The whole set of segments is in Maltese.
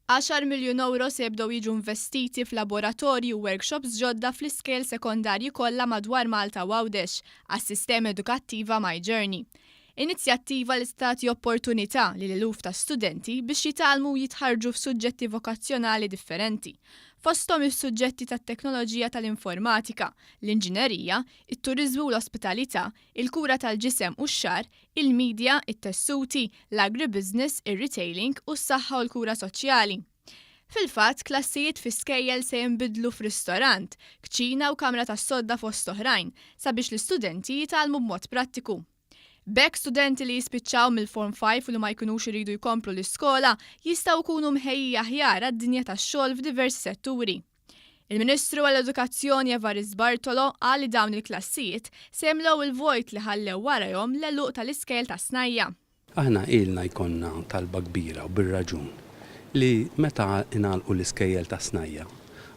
Għaxar miljun ewro se jibdew jiġu investiti f'laboratorji u workshops ġodda fl-iskejjel sekondarji kollha madwar Malta u Għawdex għas-sistema edukattiva My Journey. Inizjattiva li se tagħti opportunità lil eluf ta' studenti biex jitgħallmu u jitħarrġu f'suġġetti vokazzjonali differenti, fosthom is-suġġetti tat-teknoloġija tal-informatika, l-inġinerija, it-turiżmu u l-ospitalità, il-kura tal-ġisem u x-xagħar, il-midja, it-tessuti, l-agribusiness, ir-retailing u s-saħħa u l-kura soċjali. Fil-fatt, klassijiet fi skejjel se jinbidlu f'ristorant, kċina u kamra tas-sodda fost oħrajn, sabiex l-istudenti jitgħallmu b'mod prattiku. B'hekk studenti li jispiċċaw mill-Form Five u li ma jkunux iridu jkomplu l-iskola jistgħu jkunu mħejjija aħjar għad-dinja tax-xogħol f'diversi setturi. Il-Ministru għall-Edukazzjoni Evarist Bartolo qal li dawn il-klassijiet se jimlew il-vojt li ħallew warajhom l-għeluq tal-iskejjel tas-snajja'. Aħna ilna jkollna talba kbira u bir-raġun li meta ingħalqu l-iskejjel tas-snajja'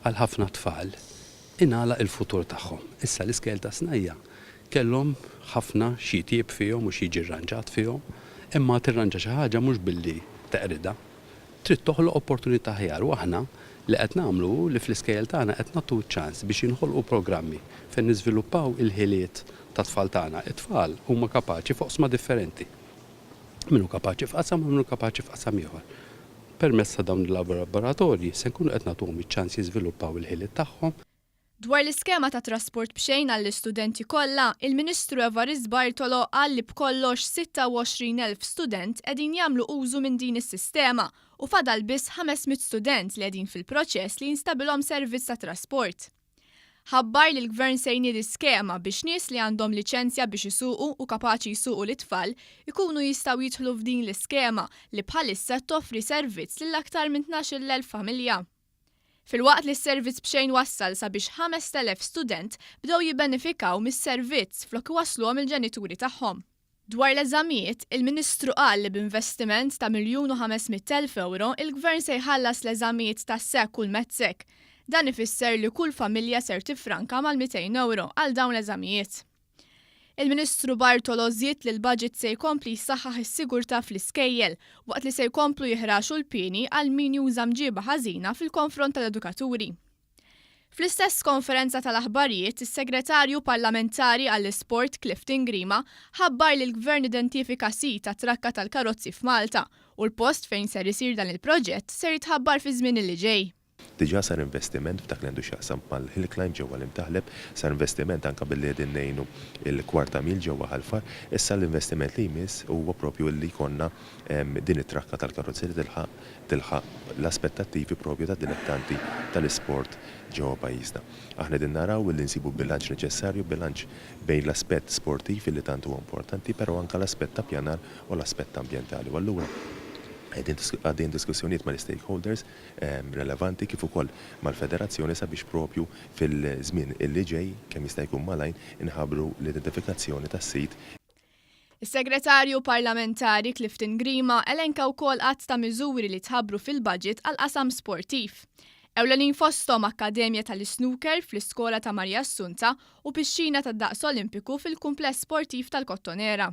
għal ħafna tfal ingħalaq il-futur tagħhom. Issa l-iskejjel tas-snajja' kellhom ħafna x'jitjieb fihom u x'jiġi rranġat fihom imma tirranġa xi ħaġa mhux billi teqridha. Trid toħloq opportunità aħjar u aħna li qed nagħmlu hu li fl-iskejjel tagħna qed nagħtu ċ-ċans biex jinħolqu programmi fejn niżviluppaw il-ħiliet tat-tfal tagħna. It-tfal huma kapaċi f'oqsma differenti. Min hu kapaċi f'qasam u min hu kapaċi f'qasam ieħor. Permezz ta' dawn il-laboratorji se nkunu qed nagħtuhom iċ-ċans jiżviluppaw il-ħiliet tagħhom. Dwar l-iskema ta' trasport b'xejn għall-istudenti kollha, il-Ministru Evarist Bartolo qal li b'kollox 26 elf student qegħdin jagħmlu użu minn din is-sistema u fadal biss 500 student li qegħdin fil-proċess li jinstabilhom servizz ta' trasport. Ħabbar li l-Gvern se jniedi skema biex nies li għandhom liċenzja biex isuqu u kapaċi jsuqu lit-tfal ikunu jistgħu jidħlu f'din l-iskema li bħalissa toffri servizz lil aktar minn 12 l-elf familja. Filwaqt li s-servizz b'xejn wassal sabiex 5,000 student bdew jibbenefikaw mis-servizz flok iwassluhom il-ġenituri tagħhom. Dwar l-eżamijiet, il-Ministru qal li b'investiment ta' miljun u ħames mitt elf ewro l-Gvern se jħallas l-eżamijiet tas-SEC u l-METSEC. Dan ifisser li kull familja ser tiffranka mal-200 ewro għal dawn l-eżamijiet. Il-Ministru Bartolo żied li l-baġit se jkompli jsaħħaħ is-sigurtà fl-iskejjel, waqt li se jkomplu jihraxu l-pieni għal min juża mġieba ħażina fil-konfront tal-edukaturi. Fl-istess konferenza tal-aħbarijiet, is-Segretarju Parlamentari għall-Isport Clifton Grima ħabbar li l-Gvern identifika sit għat-trakka tal-karozzi f'Malta u l-post fejn ser isir dan il-proġett ser jitħabbar fiż-żmien li ġej. Diġà sar investiment f'dak li għandu x'jaqsam mal-hill climb ġewwa l-Imtaħleb, sar investiment anke billi qegħdin ngħinu l-Kwarta Mil ġewwa Ħal Far, issa l-investiment li jmiss huwa propju li jkollna din it-trakka tal-karozzi li tilħaq tilħaq l-aspettattivi propju tad-dilettanti tal-isport ġewwa pajjiżna. Aħna qegħdin naraw illi nsibu bilanċ neċessarju, bilanċ bejn l-aspett sportiv illi tant huwa importanti però anke l-aspett ta' pjanar u l-aspett ambjentali u allura qegħdin għaddejjin diskussjonijiet mal-istakeholders, relevanti kif ukoll mal-Federazzjoni sabiex propju fil-żmien li ġej kemm jista' jkun malajr inħabbru l-identifikazzjoni tas-sit. Is-Segretarju Parlamentari Clifton Grima elenka wkoll għadd ta' miżuri li tħabbru fil-budget għall-qasam sportiv. Ewlenin fosthom akkademja tal-isnooker fl-iskola ta' Marija Assunta u pixxina ta' daqs Olimpiku fil-kumpless sportiv tal-Kottonera.